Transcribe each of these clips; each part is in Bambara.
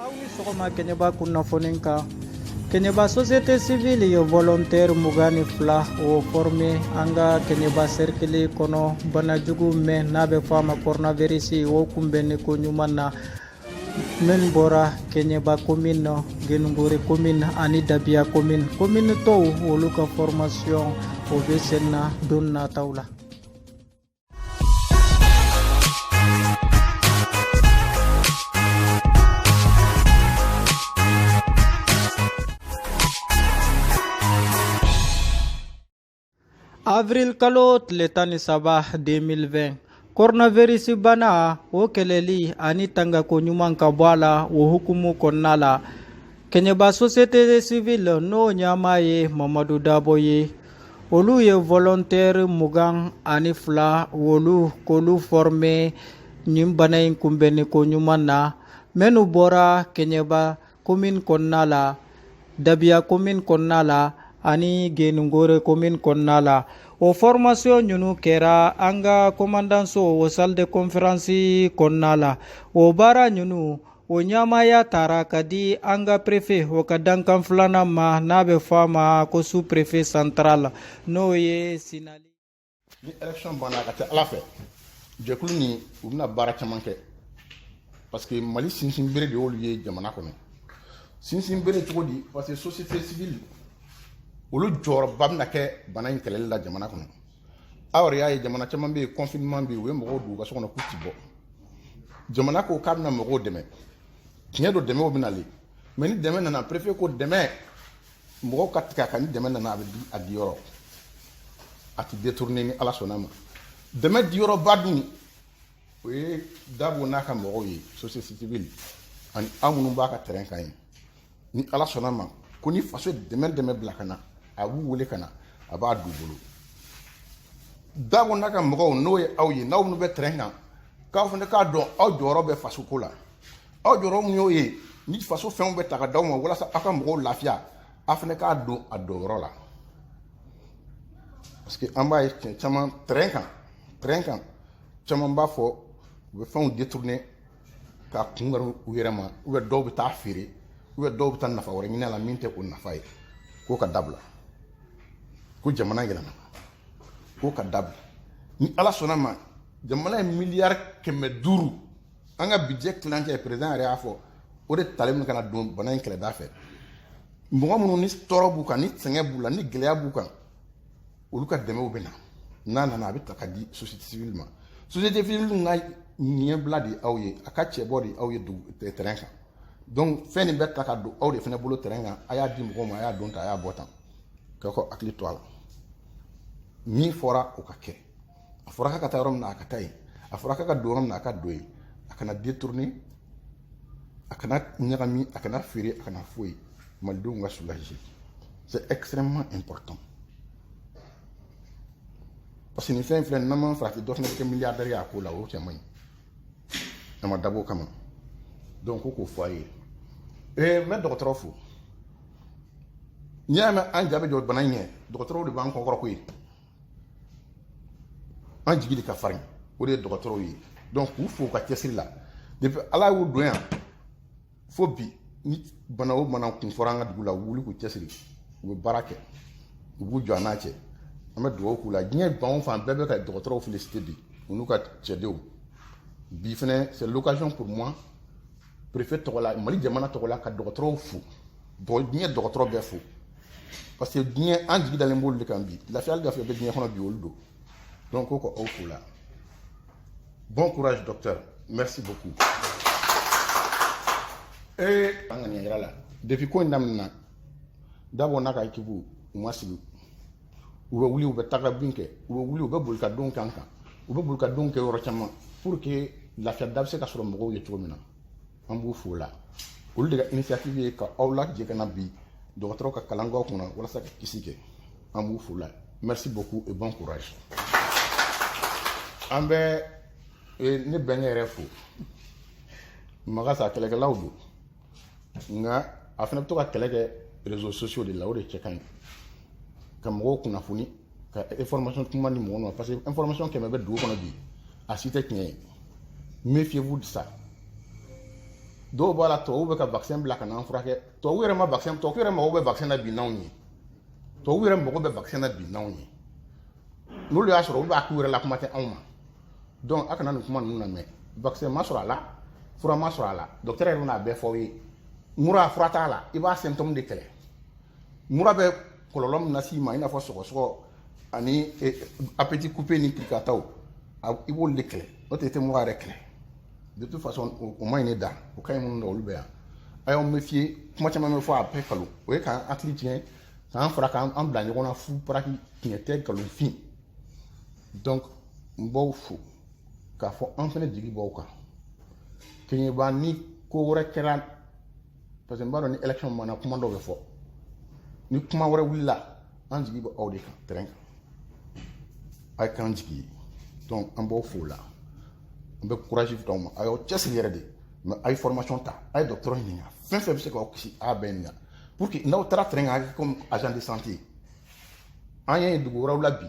aw ni sɔgɔma kɛɲɛba kunnafoni kan kɛɲɛba sosiyete sivili ye volontɛri mugan ni fila o fɔrɔme an ka kɛɲɛba serikili kɔnɔ bana jugu min n'a bɛ fɔ a ma kɔrɔnavirisi o kunbɛnni ko ɲuman na min bɔra kɛɲɛba komin na genungore komin ani dabiya komin komini tɔw olu ka fɔrɔmasiyɔn o bɛ sen na don nataw la avril kalo tile tan ni saba 2020 koronavirisi bana o kɛlɛli ani tangako ɲuman ka bɔ a la o hukumu kɔnɔna la kɛɲɛba sosiyete sivil n'o ɲɛmaa ye mamadu dabo ye olu ye volontaire mugan ani fila wolu k'olu formé nin bana in kunbɛnni ko ɲuman na minnu bɔra kɛɲɛba komin kɔnɔna la dabiya komin kɔnɔna la ani genungore komin kɔnɔna la o formation ɲunu kɛra an ka komandanso o salle de conférence kɔnɔna la o baara ɲunu o ɲamaya tara ka di an ka prefe o ka dankan filanan ma n'a bɛ fɔ a ma ko su prefe santarali n'o ye sinali ni election banna ka ca ala fɛ jɛkulu nin u bɛna baara caman kɛ parce que mali sinsinbere de y'olu ye jamana kɔnɔ sinsinbere cogo di parce que société civile olu jɔyɔrɔba bɛna kɛ bana in kɛlɛli la jamana kɔnɔ aw yɛrɛ y'a ye jamana caman bɛ yen confinement bɛ yen u ye mɔgɔw don u ka so kɔnɔ k'u ti bɔ jamana ko k'a bɛna mɔgɔw dɛmɛ tiɲɛ don dɛmɛw bɛ na le mais ni dɛmɛ nana perefe ko dɛmɛ mɔgɔw ka tigɛ a kan ni dɛmɛ nana a bɛ di a diyɔrɔ a ti détourner ni ala sɔnna ma dɛmɛ diyɔrɔba dun o ye dabo n'a ka mɔgɔw ye société civile ani aw minnu b'a ka terrain kan ye ni ala sɔnna ma ko ni faso dɛmɛ dɛmɛ bila ka na a b'u wele ka na a b'a don u bolo dabo n'a ka mɔgɔw n'o ye aw ye n'aw minnu bɛ tɛrɛn kan k'aw fana k'a dɔn aw jɔyɔrɔ bɛ faso ko la aw jɔyɔrɔ min y'o ye ni faso fɛnw bɛ ta ka d'aw ma walasa aw ka mɔgɔw lafiya aw fana k'a don a donyɔrɔ la parce que an b'a ye siɲɛ caman tɛrɛn kan tɛrɛn kan caman b'a fɔ u bɛ fɛnw détourner k'a kun kari u yɛrɛ ma ou bien dɔw bɛ taa feere ou bien dɔw bɛ taa nafa wɛrɛ ɲini a la min tɛ o nafa ye k'o ka dabila ko jamana yɛlɛma k'o ka dabila ni ala sɔnna ma jamana ye miliyari kɛmɛ duuru an ka bijɛ tilancɛ perezidan yɛrɛ y'a fɔ o de talen min ka na don bana in kɛlɛda fɛ mɔgɔ minnu ni tɔɔrɔ b'u kan ni sɛgɛn b'u la ni gɛlɛya b'u kan olu ka dɛmɛw bɛ na n'a nana a bɛ ta ka di société civile ma société civile ka ɲɛbila de aw ye a ka cɛbɔ de aw ye terrain kan donc fɛn nin bɛ ta ka don aw de fana bolo terrain kan a y'a di mɔgɔw ma a y'a don tan a y'a bɔ tan k'a k'aw hakili to a la min fɔra o ka kɛ a fɔra ka taa yɔrɔ min na a ka taa yen a fɔra ka don yɔrɔ min na a ka don yen a kana détourner a kana ɲagami a kana feere a kana foyi malidenw ka soulager c'est extrêmement important parce que nin fɛn in filɛ n'an ma farati dɔ fana bɛ kɛ milliardaire y'a ko la o cɛ man ɲi a ma dabɔ o kama donc ko k'o fɔ a ye ee n bɛ dɔgɔtɔrɔ fo n'i y'a mɛn an ja bɛ jɔ bana in ɲɛ dɔgɔtɔrɔw de b'an kɔkɔrɔ ko ye an jigi de ka farin o de ye dɔgɔtɔrɔw ye donc k'u fo u ka cɛsiri la depuis ala y'u don yan fo bi ni bana o bana kun fɔra an ka dugu la u wuli k'u cɛsiri u bɛ baara kɛ u b'u jɔ an n'a cɛ an bɛ dugawu k'u la diɲɛ fan o fan bɛɛ bɛ ka dɔgɔtɔrɔw féliciter bi u n'u ka cɛdenw bi fɛnɛ c'est l'occasion pour moi préfet tɔgɔ la mali jamana tɔgɔ la ka dɔgɔtɔrɔw fo diɲɛ dɔgɔtɔrɔ bɛɛ fo parce que diɲɛ an jigi dalen b'olu de kan bi lafiyali gafe bɛ diɲɛ kɔnɔ bi olu don donc ko ka aw fo la bon courage docteur merci beaucoup ee an ŋaniya yira la depuis ko in daminɛna dabo n'a ka équipe u ma sigi u bɛ wuli u bɛ taga bin kɛ u bɛ wuli u bɛ boli ka don kan kan u bɛ boli ka don kɛ yɔrɔ caman pour que lafiya da bɛ se ka sɔrɔ mɔgɔw ye cogo min na an b'u fo la olu de ka initiative ye ka aw lajɛ ka na bi dɔgɔtɔrɔ ka kalan k'aw kunna walasa ka kisi kɛ an b'u fo la merci beaucoup et bon courage an bɛ ne bɛnkɛ yɛrɛ fo magasa kɛlɛkɛlaw don nka a fana bɛ to ka kɛlɛ kɛ réseaux sociaux de la o de cɛ ka ɲi ka mɔgɔw kunnafoni ka information ɲuman di mɔgɔw ma parce que information kɛmɛ bɛ dugu kɔnɔ bi a si tɛ tiɲɛ ye méfiez-vous de ça dɔw b'a la tubabuw bɛ ka vaccin bila ka n'an furakɛ tubabuw yɛrɛ ma vaccin tubabuw yɛrɛ mago bɛ vaccin na bi n'anw ye tubabuw yɛrɛ mago bɛ vaccin na bi n'anw ye n'olu y'a sɔrɔ olu b'a k'u yɛrɛ la kuma tɛ anw ma donc a kana nin kuma ninnu lamɛn vaccin ma sɔrɔ a la fura ma sɔrɔ a la dɔgɔtɔrɔ yɛrɛ bɛna a bɛɛ fɔ aw ye mura fura t'a la i b'a symptôme de kɛlɛ mura bɛ kɔlɔlɔ min las'i ma i n'a fɔ sɔgɔsɔgɔ ani e, appétit coupé ni kirikataw i b'olu de kɛlɛ n'o tɛ i tɛ mura yɛrɛ kɛlɛ de toute façon o man ɲi ne da o ka ɲi minnu na olu bɛ yan a y'aw méfier kuma caman bɛ fɔ a bɛɛ nkalon o ye k'an hakili jigin k'an fara k'an bila ɲɔgɔn na fu paraki tiɲɛ tɛ nkalonfin donc n b'aw fo k'a fɔ an fɛnɛ jigi b'aw kan keɲeba ni ko wɛrɛ kɛra parce que n b'a dɔn ni élection banna kuma dɔw bɛ fɔ ni kuma wɛrɛ wulila an jigi bɛ aw de kan terrain kan a ye k'an jigi ye donc an b'aw fo la an bɛ courage d'aw ma a y'aw cɛsiri yɛrɛ de mais a ye formation ta a ye dɔgɔtɔrɔ ɲininka fɛn fɛn bɛ se k'aw kisi a bɛɛ ɲininka pour que n'aw taara terrain kan a kɛ comme agent de santé an y'a ye dugu wɛrɛw la bi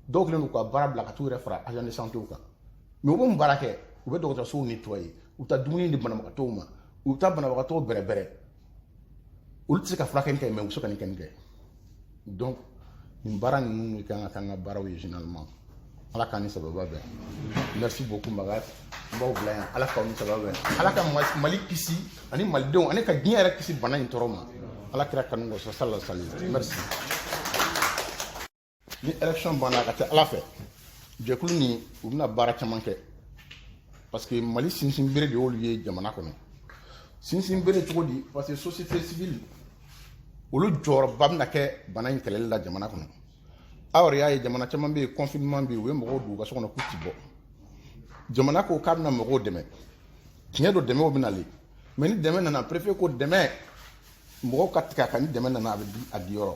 dɔw kɛlen don ka baara bila ka t'u yɛrɛ fara agent de santé kan mais u bɛ mun baara kɛ u bɛ dɔgɔtɔrɔsow nettoyer u bɛ taa dumuni di banabagatɔw ma u bɛ taa banabagatɔw bɛrɛbɛrɛ olu tɛ se ka furakɛli kɛ mais u bɛ se ka nin kɛ nin kɛ donc nin baara ninnu de kan ka kɛ an ka baaraw ye généralement ala k'an ni sababa bɛn merci beaucoup maga n b'aw bila yan ala k'aw ni sababa bɛn ala ka mali kisi ani malidenw ani ka diɲɛ yɛrɛ kisi bana in tɔɔrɔ ma ala kira kanu kosɔn sallallahu alaihi wa sallam merci ni élection banna ka kɛ ala fɛ jɛkulu ninnu bɛna baara caman kɛ parce que mali sinsin bere de y'olu ye jamana kɔnɔ sinsin bere cogo di parce que société civile olu jɔyɔrɔba bɛna kɛ bana in kɛlɛli la jamana kɔnɔ aw yɛrɛ y'a ye jamana caman bɛ yen confinement bɛ yen u ye mɔgɔw don u ka so kɔnɔ k'u ti bɔ jamana ko k'a bɛna mɔgɔw dɛmɛ tiɲɛ don dɛmɛw bɛ na le mais ni dɛmɛ nana préfet ko dɛmɛ mɔgɔw ka tigɛ a kan ni dɛmɛ nana a bɛ di a diyɔrɔ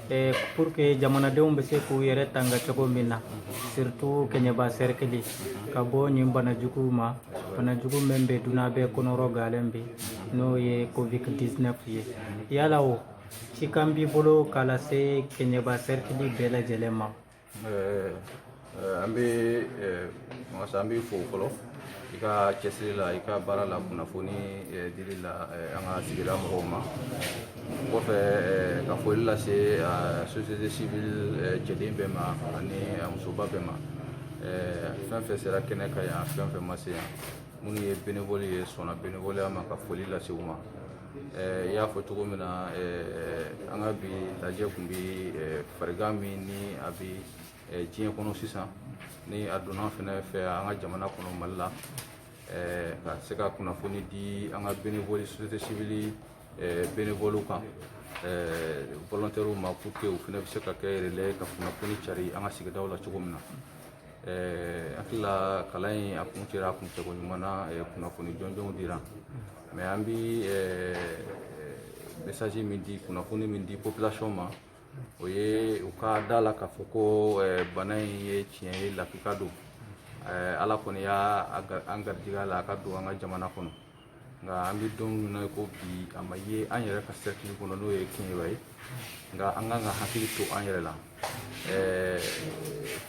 Eh, pour que jamanadenw bɛ se k'u yɛrɛ tanga cogo min na surtout kɛɲɛba sɛrɛkili ka bɔ nin bana jugu ma bana jugu min bɛ duɲa bɛɛ kɔnɔrɔ galen bi n'o ye covid 19 ye yala o cikan b'i bolo k'a lase kɛɲɛba sɛrɛkili bɛɛ lajɛlen ma an bɛ masa an b'i fo fɔlɔ i ka cɛsiri la i ka baara la kunnafoni dili la an ka sigida mɔgɔw ma kɔfɛ ka foli lase société civile cɛden bɛɛ ma ani musoba bɛɛ ma fɛn fɛn sera kɛnɛ kan yan fɛn fɛn ma se yan minnu ye benevoli ye sɔnna benevoliya ma ka foli lase u ma i y'a fɔ cogo min na an ka bi lajɛ kun bɛ farigan min ni a bɛ diɲɛ kɔnɔ sisan ni a donna fana an fɛ an ka jamana kɔnɔ mali la ka se ka kunnafoni di an ka benevoli société civile benevoliw kan volontaires ma pour que u fana bɛ se ka kɛ relais ka kunnafoni cari an ka sigidaw la cogo min na hakili la kalan in a kuncɛra a kuncɛko ɲuman na kunnafoni jɔnjɔnw dira mais an bi eh, message min di kunnafoni min di population ma o ye u ka da la k'a fɔ ko eh, bana in ye tiɲɛ ye lakika don eh, ala kɔni y'a an garijigɛ la a ka don an ka jamana kɔnɔ nka an bɛ don min na ko bi a ma ye an yɛrɛ ka cercle kɔnɔ n'o ye keɲɛba ye nka an kan ka hakili to an yɛrɛ la eh,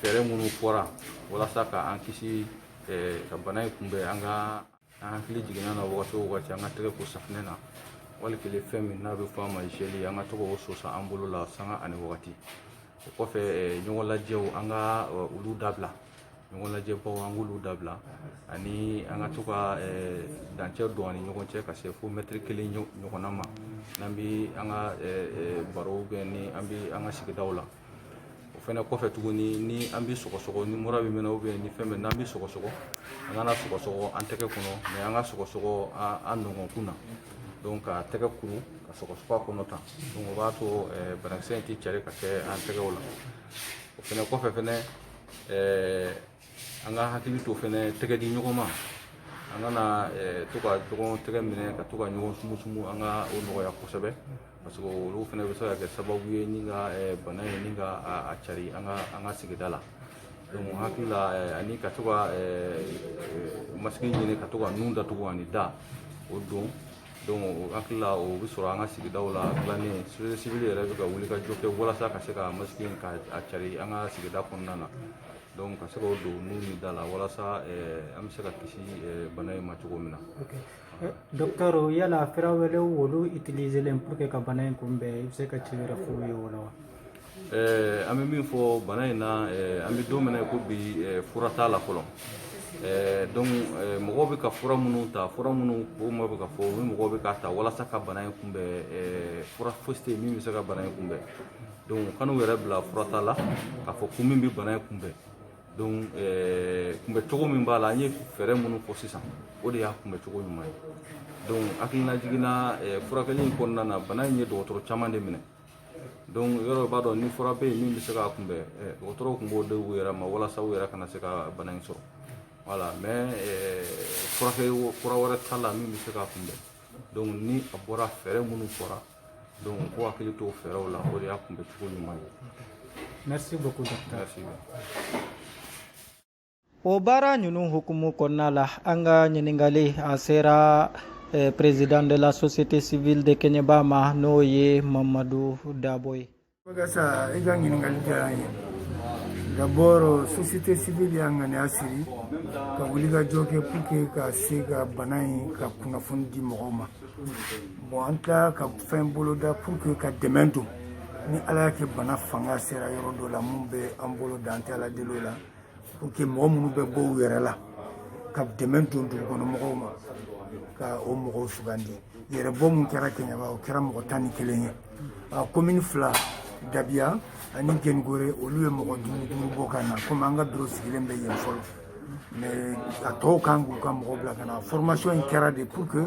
fɛɛrɛ minnu fɔra walasa ka an kisi ka bana in kunbɛn an ka an hakili jigin a na wagati o wagati an ka tɛgɛ ko safinɛ na wali kelen fɛn min n'a bɛ fɔ a ma gel an ka to k'o sosa an bolo la sanga ani wagati o kɔfɛ eh, ɲɔgɔn lajɛw an ka eh, olu dabila ɲɔgɔn lajɛbaw an k'olu dabila ani an ka to ka eh, dancɛ don an ni ɲɔgɔn cɛ ka se fo mɛtiri kelen ɲɔgɔnna ma n'an bɛ an ka barow bɛ ni an bɛ an ka sigidaw la o fɛnɛ kɔfɛ tuguni ni an bɛ sɔgɔsɔgɔ ni mura bɛ min na ou bien ni fɛn bɛ n'an bɛ sɔgɔsɔgɔ an kana sɔgɔsɔgɔ an tɛgɛ kɔnɔ mais an ka sɔgɔsɔgɔ an nɔnkɔnkun na donc ka tɛgɛ kuru ka sɔgɔsɔgɔ a kɔnɔ tan donc o b'a to eh, banakisɛ in tɛ cari ka kɛ an tɛgɛw la o fɛnɛ kɔfɛ fɛnɛ eh, an ka hakili to fɛnɛ tɛgɛ di ɲɔgɔn ma an kana to ka ɲɔgɔn tɛgɛ minɛ ka to ka ɲɔgɔn sumusumu an ka o nɔgɔya kosɛbɛ parce que olu fɛnɛ bɛ se ka kɛ sababu ye ni ka bana ye ni ka a cari an ka an ka sigida la donc hakili la ani ka to ka masque ɲini ka to ka nun datugu ani da o don donc o hakili la o bɛ sɔrɔ an ka sigidaw la dilannen société civile yɛrɛ bɛ ka wulikajɔ kɛ walasa ka se ka masque ka a cari an ka sigida kɔnɔna na donc ka se k'o don nun ni da la walasa eh, an bɛ se ka kisi eh, bana in ma cogo min na eh, docteur yala fura wɛrɛw olu utiliselen pour que ka bana in kunbɛn i bɛ se ka ci wɛrɛ f'u ye o la wa an bɛ min fɔ bana in na an bɛ don min na ko bi fura t'a la fɔlɔ donc mɔgɔw bɛ ka fura minnu ta fura minnu kuma bɛ ka fɔ u ni mɔgɔw bɛ ka ta walasa ka bana in kunbɛn fura fosi tɛ yen min bɛ se ka bana in kunbɛn donc u kan'u yɛrɛ bila furata la k'a fɔ ko min bɛ bana in kunbɛn donc eh, kunbɛ cogo min b'a la an ye fɛɛrɛ minnu fɔ sisan o de y'a kunbɛ cogo ɲuman ye donc hakilinajigin na eh, furakɛli in kɔnɔna na bana in ye dɔgɔtɔrɔ caman de minɛ donc i yɛrɛ b'a dɔn ni fura bɛ yen min bɛ se k'a kunbɛn eh, dɔgɔtɔrɔw tun b'o di u yɛrɛ ma walasa u yɛrɛ kana se ka bana in sɔrɔ voilà mais furakɛ kura wɛrɛ t'a la min bɛ se k'a kunbɛn donc ni a bɔra fɛɛrɛ minnu fɔra donc k'u hakili t'o fɛɛrɛw la o de y'a kunbɛ cogo ɲuman ye merci beaucoup docteur merci o baara ninnu hukumu kɔnɔna la an ka ɲininkali a sera eh, président de la société civile de keɲɛba ma n'o ye mamadu dabo ye magasa i ka ɲininkali diyara n ye d'abord société civile y'a ŋaniya siri ka wuli ka jɔ kɛ pour que ka se ka bana in ka kunnafoni di mɔgɔw ma bon an tila ka fɛn boloda pour que ka dɛmɛ don ni ala y'a kɛ bana fanga sera yɔrɔ dɔ la mun bɛ an bolo da an tɛ ala deli o la pour que mɔgɔ minnu bɛ bɔ u yɛrɛ la ka dɛmɛ don dugukɔnɔmɔgɔw ma ka o mɔgɔw sugandi yɛrɛ bɔ mun kɛra kɛɲɛba o kɛra mɔgɔ tan ni kelen ye a komini fila dabiya ani genigore olu ye mɔgɔ duuru duuru bɔ ka na komi an ka biro sigilen bɛ yen fɔlɔ mais a tɔw kan k'u ka mɔgɔ bila ka na formation in kɛra de pour que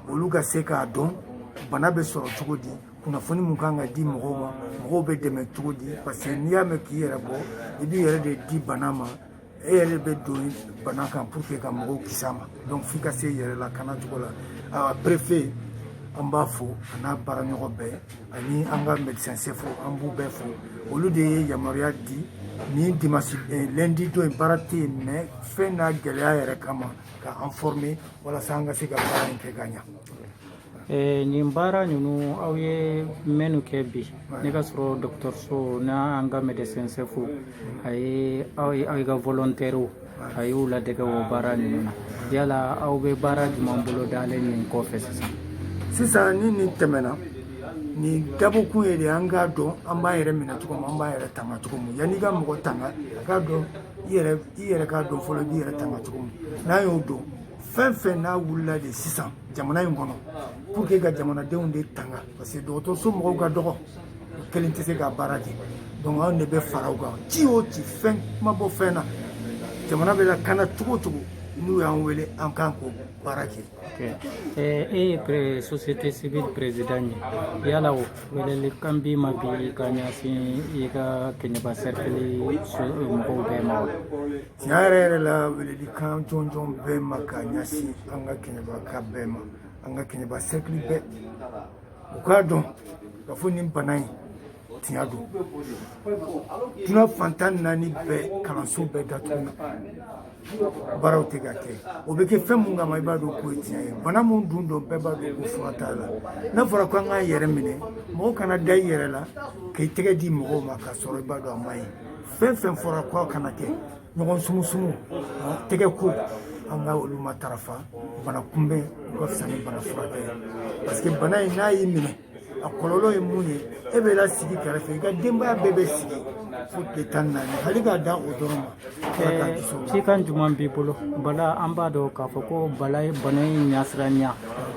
olu ka se k'a dɔn bana bɛ sɔrɔ cogo di kunnafoni mun kan ka di mɔgɔw ma mɔgɔw bɛ dɛmɛ cogo di parce que n'i y'a mɛn k'i yɛrɛ bɔ i b'i yɛrɛ de di bana ma e yɛrɛ bɛ don bana kan pour que ka mɔgɔw kisi a ma donc f'i ka se yɛrɛ lakana cogo la awa préfet an b'a fo a n'a baaraɲɔgɔn bɛɛ ani an ka médecin chef an b'u bɛɛ fo olu de ye yamaruya di ni dimanche eh, lundi don ye baara tɛ yen mais fɛn n'a gɛlɛya yɛrɛ kama ka an former walasa an ka se ka baara in kɛ ka ɲa Ee, nin baara ninnu aw ye minnu kɛ bi ne ka sɔrɔ dɔgɔtɔrɔso n'an ka médecin chef a ye aw ka volontairew a y'u ladege o baara ninnu na yala aw bɛ baara jumɛn bolodalen nin kɔfɛ sisan sisan ni nin tɛmɛna nin dabɔkun ye de an k'a dɔn an b'an yɛrɛ minɛ cogo min an b'an yɛrɛ tanga cogo min yanni i ka mɔgɔ tanga a k'a dɔn i yɛrɛ i yɛrɛ k'a dɔn fɔlɔ i b'i yɛrɛ tanga cogo min n'an y'o dɔn fɛn fɛn n'a wulila de sisan jamana in kɔnɔ pour que ka jamanadenw de tanga parce que dɔgɔtɔrɔso mɔgɔw ka dɔgɔ u kelen tɛ se ka baara kɛ donc anw de bɛ fara u kan ci o ci fɛn kuma bɔ fɛn na jamana bɛ lakana cogo cogo n'u y'an wele an kan k'o baara kɛ e ye société civile président ye yala o welelikan b'i ma bi ka ɲɛsin i ka kɛɲɛba sɛrikili mɔgɔw bɛɛ ma wa tiɲɛ yɛrɛ yɛrɛ la welelikan jɔnjɔn bɛ n ma ka ɲɛsin an ka kɛɲɛbaka bɛɛ ma an ka kɛɲɛba sɛrikili bɛɛ u k'a dɔn ka fɔ nin bana in tiɲɛ don duniya fan tan naani bɛɛ kalanso bɛɛ datugu baaraw tɛ ka kɛ o bɛ kɛ fɛn mun kama i b'a dɔn k'o ye tiɲɛ ye bana mun dun don bɛɛ b'a dɔn ko fura t'a la n'a fɔra ko an k'an yɛrɛ minɛ mɔgɔ kana da i yɛrɛ la k'i tɛgɛ di mɔgɔw ma k'a sɔrɔ i b'a dɔn a man ɲi fɛn fɛn fɔra k'aw kana kɛ ɲɔgɔn sumusumu tɛgɛko an ka olu matarafa bana kunbɛn o ka fisa ni bana furakɛ parce que bana in n'a y'i minɛ a kɔlɔlɔ ye mun ye e bɛ lasigi kɛrɛfɛ i ka denbaya bɛɛ bɛ sigi fo tile tan naani hali ka dan o dɔrɔn ma cikan jumɛn b'i bolo bala an b'a dɔn k'a fɔ ko bala ye bana in ɲasiranya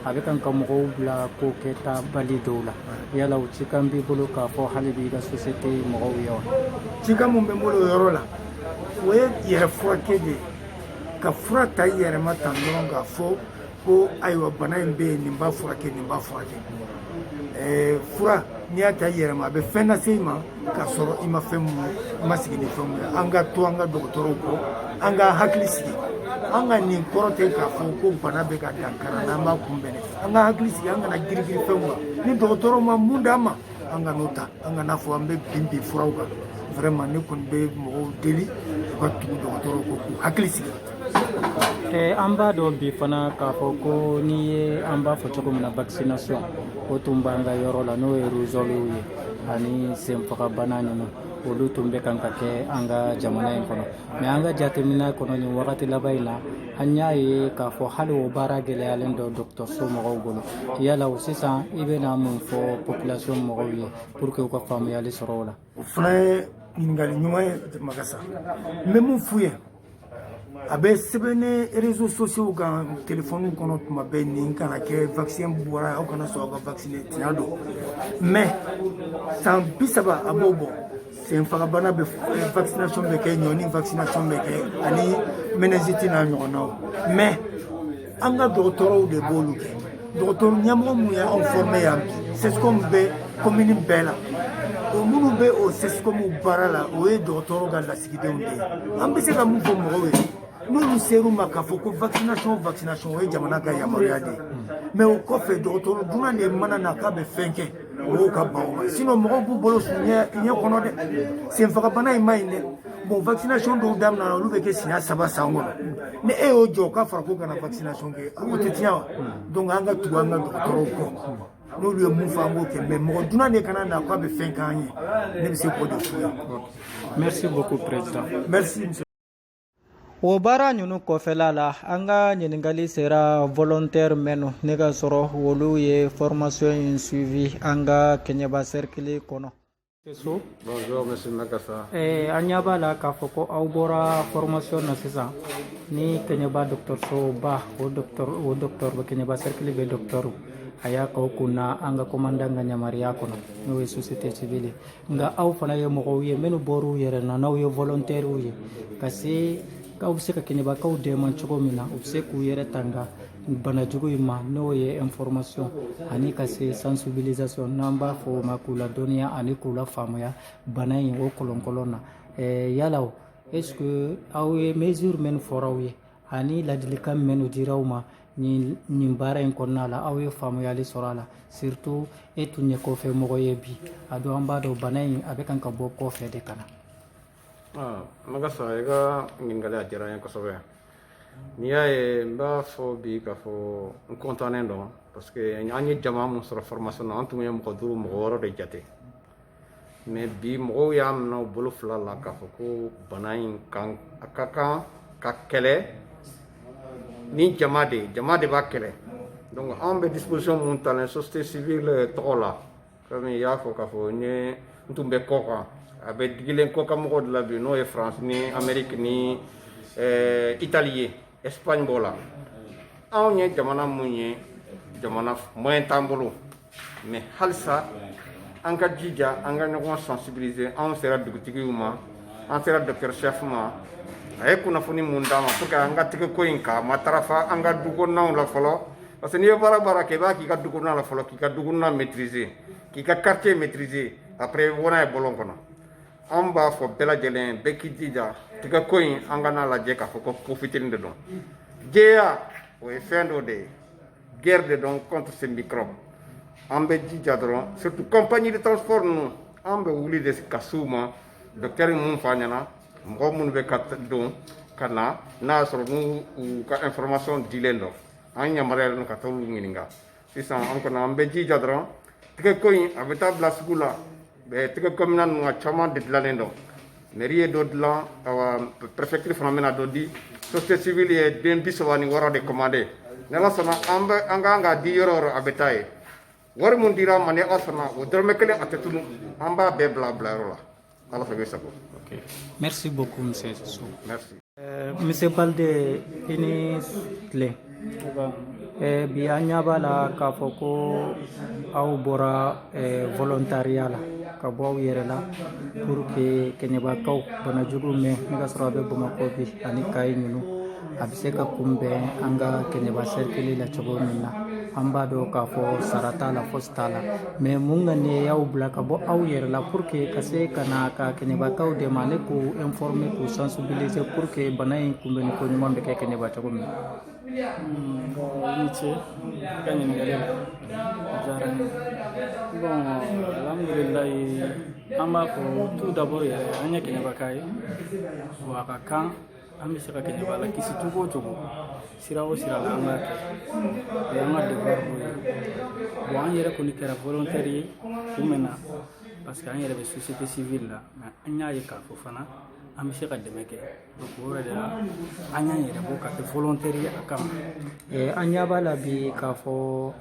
a bɛ kan ka mɔgɔw bila ko kɛtabali dɔw la yala o cikan b'i bolo k'a fɔ hali b'i ka société mɔgɔw ye wa cikan mun bɛ n bolo o yɔrɔ la o ye yɛrɛ furakɛ de ye ka fura ta i yɛrɛ ma tan dɔrɔn k'a fɔ ko ayiwa bana in bɛ yen nin b'a furakɛ nin b'a furakɛ fura n'i y'a ta i yɛrɛ ma a bɛ fɛn lase i ma k'a sɔrɔ i ma fɛn mu i ma sigi ni fɛn mu ye an ka to an ka dɔgɔtɔrɔw kɔ an ka hakili sigi an ka nin kɔrɔ tɛ k'a fɔ ko bana bɛ ka dankar'an na an b'a kunbɛn an ka hakili sigi an kana girigiri fɛnw kan ni dɔgɔtɔrɔ ma mun d'an ma an kan'o ta an kana fɔ an bɛ bin bin furaw kan vraiment ne kɔni bɛ mɔgɔw deli u ka tugu dɔgɔtɔrɔw kɔ k'u hakili sigi Eh, an b'a dɔn bi fana k'a fɔ ko n'i ye an b'a fɔ cogo min na vaccination o tun b'an ka yɔrɔ la n'o ye rougeole ye ani senfagabana ninnu olu tun bɛ kan ka kɛ an ka jamana in kɔnɔ mais an ka jateminɛ kɔnɔ nin wagati laban in na an y'a ye k'a fɔ hali o baara gɛlɛyalen don dɔgɔtɔrɔso mɔgɔw bolo yala o sisan i bɛna mun fɔ population mɔgɔw ye pour que u ka faamuyali sɔrɔ o la o fana ye ɲininkali ɲuman ye Magasa n bɛ mun f'u ye a bɛ sɛbɛn les réseaux sociaux kan telefɔni kɔnɔ tuma bɛɛ nin kana kɛ vaccin bɔra aw kana sɔn aw ka vacciner tiɲɛ don mais san bi saba a b'o bɔ senfagabana bɛ vaccination bɛ kɛ ɲɔni vaccination bɛ kɛ ani méningite n'a ɲɔgɔnnaw mais an ka dɔgɔtɔrɔw de b'olu kɛ dɔgɔtɔrɔ ɲɛmɔgɔ min ye anw former yan bi CSCOM bɛ komini bɛɛ la o minnu bɛ o CSCOM baara la o ye dɔgɔtɔrɔw ka lasigidenw de ye an bɛ se ka mun fɔ mɔgɔw ye n'olu ser'u ma k'a fɔ ko vaccination vaccination o ye jamana ka yamaruya de ye mais o kɔfɛ dɔgɔtɔrɔ dunan de mana na k'a bɛ fɛn kɛ mɔgɔw ka ban o ma sinon mɔgɔw b'u bolo s'u ɲɛ kɔnɔ dɛ senfagabana in man ɲi dɛ bon vaccination dɔw daminɛna olu bɛ kɛ siɲɛ saba san kɔnɔ ni e y'o jɔ k'a fɔra ko kana vaccination kɛ o tɛ tiɲɛ wa donc an ka tugu an ka dɔgɔtɔrɔw kɔ n'olu ye mun fɔ an b'o kɛ mais mɔgɔ dunan de kana na k'a bɛ fɛn k'an ye ne bɛ se k'o de f'u ye merci beaucoup président merci o baara ninnu kɔfɛla la an ka ɲininkali sera volontaire minnu ne ka sɔrɔ olu ye formation in suivi an ka kɛɲɛba cercle kɔnɔ so eh, an ɲa b'a la k'a fɔ ko aw bɔra formation na sisan ni kɛɲɛba dɔgɔtɔrɔsoba o dɔgɔtɔrɔ o dɔgɔtɔrɔ kɛɲɛba cercle bɛ dɔgɔtɔrɔ a y'a k'aw kun na an ka commandant ka yamaruya kɔnɔ n'o ye société civile ye nka aw fana ye mɔgɔw ye minnu bɔr'u yɛrɛ na n'aw ye volontairew ye ka se k'aw bɛ se ka kɛɲɛbakaw dɛmɛ cogo min na u bɛ se k'u yɛrɛ tanga bana jugu in ma n'o ye information ani ka se sensibilisation n'an b'a fɔ o ma k'u ladɔnniya ani k'u lafaamuya bana in o kɔlɔnkɔlɔn na yala est ce que aw ye mesure minnu fɔra aw ye ani ladilikan minnu dira aw ma nin nin baara in kɔnɔna la aw ye faamuyali sɔrɔ a la surtout e tun ye kɔfɛ mɔgɔ ye bi a dɔn an b'a dɔn bana in a bɛ kan ka bɔ kɔfɛ de ka na ah, Magasa i ka ɲininkali a diyara n ye kosɛbɛ n'i y'a ye n b'a fɔ bi k'a fɔ n kɔntannen don parce que an ye jama min sɔrɔ formation na an tun ye mɔgɔ duuru mɔgɔ wɔɔrɔ de jate mais bi mɔgɔw y'a minɛ u bolo fila la k'a fɔ ko bana in kan a ka kan ka kɛlɛ ni jama de ye jama de b'a kɛlɛ donc anw bɛ disposition minnu talen société civile eh, tɔgɔ la komi i y'a fɔ k'a fɔ n ye n tun bɛ kɔkan a bɛ digilen kɔkanmɔgɔw de la bi n'o ye france ni amérique ni eh, italie ye Espagne b'o la anw ye jamana mun ye jamana moyen t'an bolo mais halisa an ka jija an ka ɲɔgɔn sensibiliser anw sera dugutigiw ma an sera docteur chef ma a ye kunnafoni mun d'an ma pour que an ka tɛgɛko in k'a matarafa an ka du kɔnɔnaw la fɔlɔ parce que n'i ye baara baara kɛ i b'a k'i ka du kɔnɔna la fɔlɔ k'i ka du kɔnɔna maîtriser k'i ka quartier maîtriser après i bɛ bɔ n'a ye bɔlɔn kɔnɔ an b'a fɔ bɛɛ lajɛlen bɛɛ k'i jija tigɛko in an kan'a lajɛ k'a fɔ ko fitinin de don jɛya o ye fɛn dɔ de ye guerre de don contre ces microbes an bɛ jija dɔrɔn surtout compagnie de transport ninnu an bɛ wuli de ka s'u ma docteur mun f'an ɲɛna mɔgɔ minnu bɛ ka don ka na n'a y'a sɔrɔ n'u u ka information dilen don an yamaruyalen don ka t'olu ɲininka sisan an kɔni an bɛ jija dɔrɔn tigɛko in a bɛ taa bila sugu la tigɛko minɛn ninnu a caman de dilannen don mairie ye dɔ dilan awa préfecture fana bɛna dɔ di société civile ye den bi saba ni wɔɔrɔ de commandé ni ala sɔnna an bɛ an kan k'a di yɔrɔ o yɔrɔ a bɛ taa ye wari min dira an ma ni ala sɔnna o dɔrɔmɛ kelen a tɛ tunu an b'a bɛɛ bila bilayɔrɔ la ala fɛ bɛ sago merci beaucoup monsieur Sow merci euh, monsieur Balde i ni tile eh, bi an ɲɛ b'a la k'a fɔ ko aw bɔra eh, volontariat la ka bɔ aw yɛrɛ la pour que kɛɲɛbakaw banajugu mɛn ne ka sɔrɔ a bɛ bamakɔ bi ani kayi ninnu a bɛ se ka kunbɛn an ka kɛɲɛba sɛrikili la cogo min na an b'a dɔn k'a fɔ sara t'a la fosi t'a la mais mun ka ne y'aw bila ka bɔ aw yɛrɛ la pour que ka se ka na ka kɛɲɛbakaw dɛmɛ ani k'u informer k'u sensibiliser pour que bana in kunbɛnni koɲuman bɛ kɛ kɛɲɛba cogo min na. ni ce ka ɲininkali la a diyara n ye bon alhamdulilayi an b'a fɔ tout d'abord yɛrɛ an ye kɛɲɛbaka ye wa a ka kan an bɛ se ka kɛɲɛba lakisi cogo o cogo sira o sira la an b'a kɛ o y'an ka devoir dɔ ye bon an yɛrɛ kɔni kɛra volontaire ye kun min na parce que an yɛrɛ bɛ société civile la mais an y'a ye k'a fɔ fana an bɛ se ka dɛmɛ kɛ donc o yɛrɛ de la an y'an yɛrɛ bɔ ka kɛ volontaire ye a kama an ɲɛ b'a la bi k'a fɔ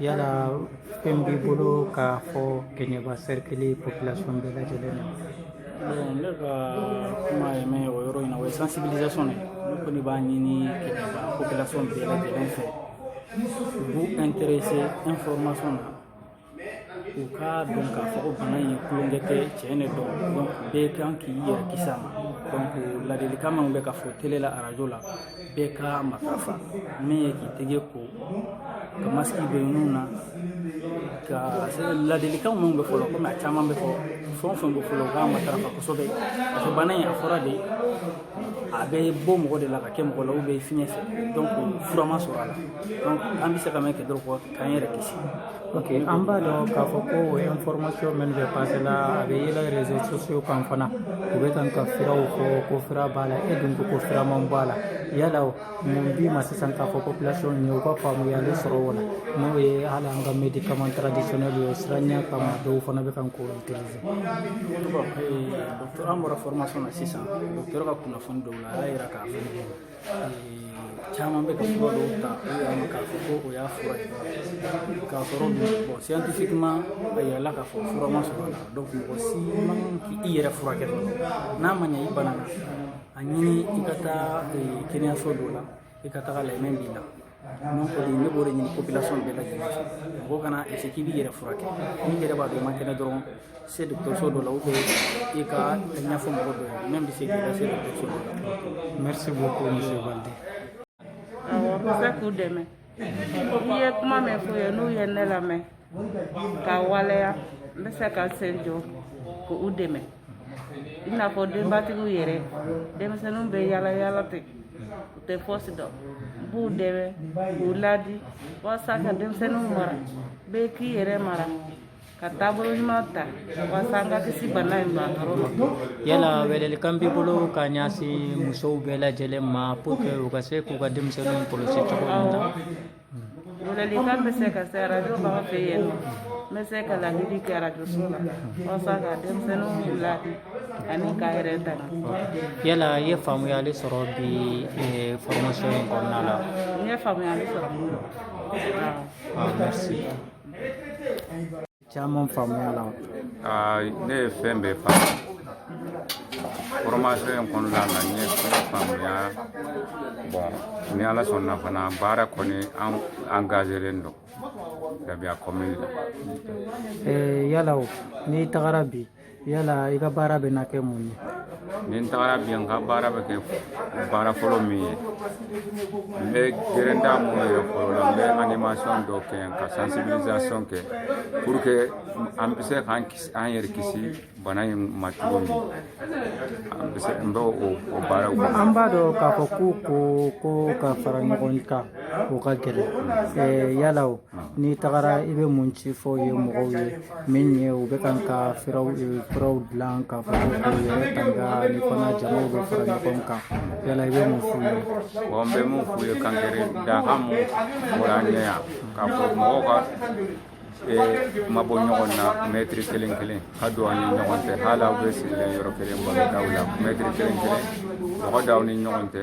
yala fɛn b'i bolo k'a fɔ kɛɲɛba sɛrikili population bɛɛ lajɛlen na ne ka kuma ye min ye o yɔrɔ in na o ye sensibilisation de ye ne kɔni b'a ɲini kɛɲɛba population bɛɛ lajɛlen fɛ u b'u intéresser information na u k'a dɔn k'a fɔ ko bana in tulonkɛ tɛ tiɲɛ de don donc bɛɛ kan k'i yɛrɛ kisi a ma donc ladilikan min bɛ ka fɔ tele la arajo la bɛɛ k'a matarafa min ye k'i tɛgɛ ko ka masiki don nun na ka ladilikanw minnu bɛ fɔlɔ komi a caman bɛ fɔ fɛn o fɛn bɛ fɔlɔ u k'a matarafa kosɛbɛ parce que bana in a fɔra de a bɛ bɔ mɔgɔ de la ka kɛ mɔgɔ la ou bien fiɲɛ fɛ donc fura ma sɔrɔ a la donc an bɛ se ka min kɛ dɔrɔn K'an yɛrɛ kisi ok an b'a dɔn k'a fɔ ko o information minnu bɛ passé la a bɛ yɛlɛn réseaux sociaux kan fana u bɛ kan ka firaw fɔ ko fira b'a la e dun ko ko fira man bɔ a la yala mun b'i ma sisan k'a fɔ population ye u ka faamuyali sɔrɔ o la n'o ye hali an ka médicament traditionnel ye o siranya kama dɔw fana bɛ kan k'o utiliser docteur an bɔra formation na sisan docteur ka kunnafoni dɔw la a y'a jira k'a fɔ caman bɛ ka fura dɔw ta u ɲɛ ma k'a fɔ ko o y'a fura ye k'a sɔrɔ bon scientifiquement a yirala k'a fɔ fura ma sɔrɔ a la donc mɔgɔ si man kan k'i yɛrɛ furakɛ fɔlɔ n'a ma ɲɛ i banana a ɲini i ka taa kɛnɛyaso dɔ la i ka taga lajɛ min b'i la non kɔni ne b'o de ɲini population bɛɛ lajɛlen fɛ mɔgɔ kana essayer k'i b'i yɛrɛ furakɛ n'i yɛrɛ b'a dɔn i man kɛnɛ dɔrɔn se dɔgɔtɔrɔso dɔ la ou bien i k'a ɲɛfɔ mɔgɔ dɔ ye min bɛ se k'i lase dɔgɔtɔrɔso dɔ la merci beaucoup monsieur balde awɔ n b'a fɛ k'u dɛmɛ i ye kuma min f'u ye n'u ye ne lamɛn k'a waleya n bɛ se ka sen jɔ k'u dɛmɛ i n'a fɔ denbatigiw yɛrɛ denmisɛnninw bɛ yala yala ten u tɛ fosi dɔn n b'u dɛmɛ k'u ladi walasa ka denmisɛnninw mara bɛɛ k'i yɛrɛ mara ka taabolo ɲuman ta walasa an ka kisi bana in mantɔɔrɔ ma yala welelikan b'i bolo ka ɲɛsin musow bɛɛ lajɛlen ma pour que u ka se k'u ka denmisɛnninw kɔlɔsi cogo min na Welelikan bɛ se ka se arajo b'an fɛ yen nɔ n bɛ se ka ladili kɛ arajoso la walasa ka denmisɛnninw ladi ani k'a yɛrɛ tanga yala i ye faamuyali sɔrɔ bi eh, formation in kɔnɔna la n ye faamuyali sɔrɔ mun na merci Caman faamuya la ne ye fɛn bɛɛ faamu formation in kɔnɔna na n ye fɛn faamuya bon ni ala sɔnna fana baara kɔni an engagélen don Dabiya commune la yala o n'i tagara bi yala i ka baara bɛ na kɛ mun ye ni n tagara bi n ka baara bɛ kɛ baara fɔlɔ min ye n bɛ gɛrɛnda minnu yɛrɛ fɔlɔ la n bɛ animation dɔ kɛ n ka sensibilisation kɛ pour que an bɛ se k'an yɛrɛ kisi bana in ma cogo min na n bɛ o baaraw kɛ an b'a dɔn k'a fɔ ko ko ka fara ɲɔgɔn kan o ka gɛlɛn yala o n'i tagara i bɛ mun ci fɔ ye mɔgɔw ye min ye u bɛ kan ka furaw dilan k'a fɔ k'u yɛrɛ tanga ani fana jamaw bɛ fara ɲɔgɔn kan yala i bɛ mun f'u ye bon n bɛ mun f'u ye kankari dakan mun fɔra an ɲɛ yan k'a fɔ mɔgɔw ka mabɔ ɲɔgɔn na mɛtiri kelen kelen ka don aw ni ɲɔgɔn tɛ hali aw bɛ sigilen yɔrɔ kelen barodaw la mɛtiri kelen kelen o ka d'aw ni ɲɔgɔn tɛ